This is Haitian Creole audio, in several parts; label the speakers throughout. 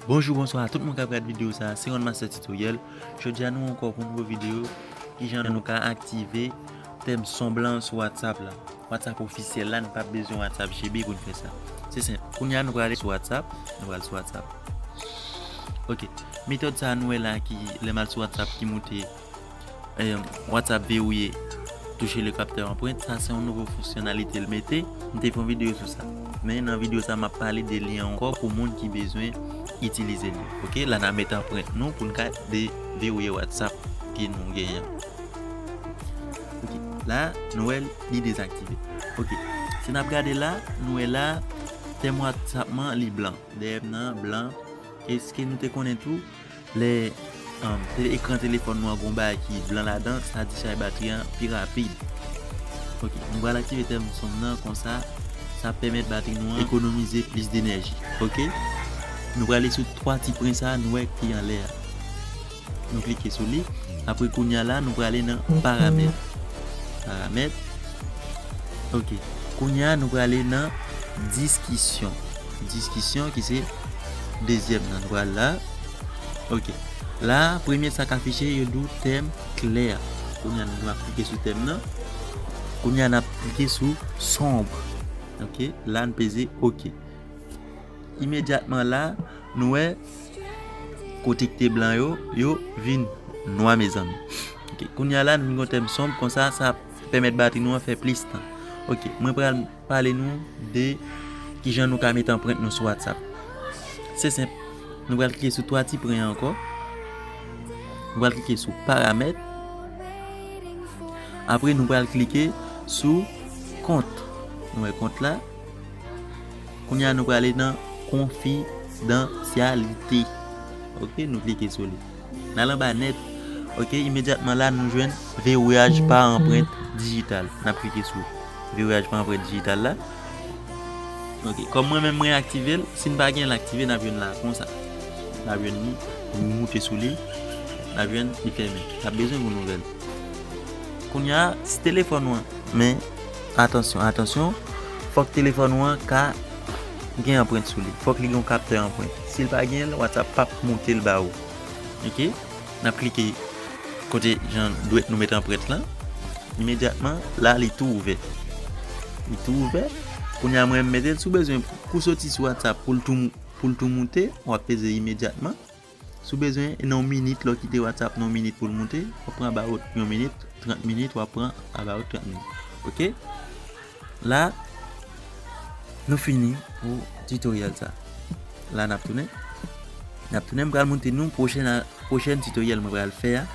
Speaker 1: Bonjou bonswa a tout moun kap gad video sa se one master tutoriel jodia nou ankò pou nouvo video kijan nou ka aktive tèm son blan sou whatsapp la whatsapp ofisyèl la nou pap bezwen whatsapp gb pou nou fè sa se senp kounya nou prale sou whatsapp nou pral sou whatsapp ok metòd sa nou wè la ki lèm al sou whatsapp ki moute. WhatsApp verouye touche le capteur empreinte sa se yon nouvo fonksyonalite l mete m te fè yon video sou sa men nan video sa map pale de li ankò pou moun ki bezwen itilize li ok la na met empreinte nou pou n ka de verouye WhatsApp ke nou genyen an ok la nou wè li dezaktive ok si nap gade la nou wè la tèm WhatsApp mwen li blan dèyè m nan blan eske nou te konnen tou Lè ekran telefòn nou an gen yon bagay ki blan ladan, sa di chay batri an pi rapid. Ok, nou pral aktive tèm sonm nan konsa sa ap pèmèt batri nou an ekonomize plis denèji. Ok, nou prale sou 3 ti pwen sa a nou wè ki anlè a. Nou klike sou li, apre kounya la nou prale nan paramèt. Paramèt, ok, kounya nou prale nan diskisyon. Diskisyon ki se dezyèm nan nou pral la ok la premye sa k afiche yo di w tèm klè kounye a nou ap klike sou tèm nan kounye a n ap klike sou sonb ok la n peze ok imedyatman la nou wè kote ki te blan yo yo vin nwa mezanmi ok kounye a la nou vin gen yon tèm sonb konsa sa ap pèmèt batri nou an fè plis tan ok mwen pral. Pale nou de kijan nou ka met anprent nou sou WhatsApp. Se senp, nou pral klike sou 3 ti pwen ankò. Nou pral klike sou paramèt. Apre nou pral klike sou kont. Nou wè kont la. Kounya nou prale nan konfidansyalite. Ok, nou klike sou li. Nal anba nèt ok imedyatman la nou jwenn vewouyaj pa anprent dijital nap klike sou vewouyaj pa anprent dijital la ok kòm mwen menm mwen aktivel sin pa genl aktive nap jwenn la konsa nap jwenn li nou moute sou li nap jwenn li fèmen nap bezwen yon nouvèl kounya si telefòn ou an men atansyon atansyon fòk telefòn ou an ka gen anprent sou li fòk li gen yon kaptè anprent. Sil pa genyenl whatsapp pap moutel ba ou ok nap klike kote jan dwèt nou met anprent lan imedyatman la li tou ouvè li tou ouvè kounya mwen m metel sou bezwen pou soti sou whatsapp poul tou poul tou moute wap peze imedyatman sou bezwen nan yon minit lè w kite whatsapp nan yon minit poul moute wap pran about yon minit 30 minit wap pran about 30 minit ok. La Nou fini pou tutoriel sa La nap tounen Nap tounen pral montre nou pwochen tutoriel mwen pral fè a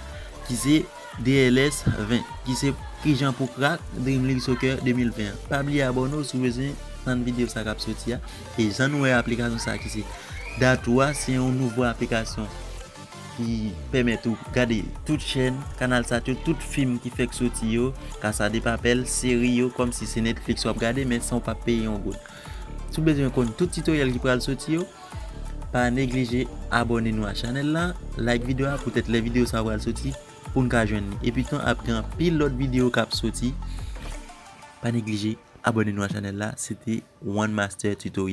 Speaker 1: Ki se DLS 20 Ki se kijan pou crack Dream League Soccer 2020 an Pa bliye abone w si w bezwen tann video sa kap soti a E jan nou wè aplikasyon sa ki se Dathou a se yon nouvo aplikasyon ki pèmèt ou gade tout chèn, kanal sat yo, tout fim ki fèk soti yo, Casa de Papel, seri yo, kòm si se Netflix w ap gade men san w pa peye yon goud. Si w bezwen konn tout titoryèl ki pral soti yo, pa neglije abòne nou a chanèl lan, like video a poutèt lè video sa pral soti pou n ka jwenn li. Epi tou ap gen anpil lòt video k ap soti, pa neglije abòne nou a chanèl la. Se te One Master Tutorial.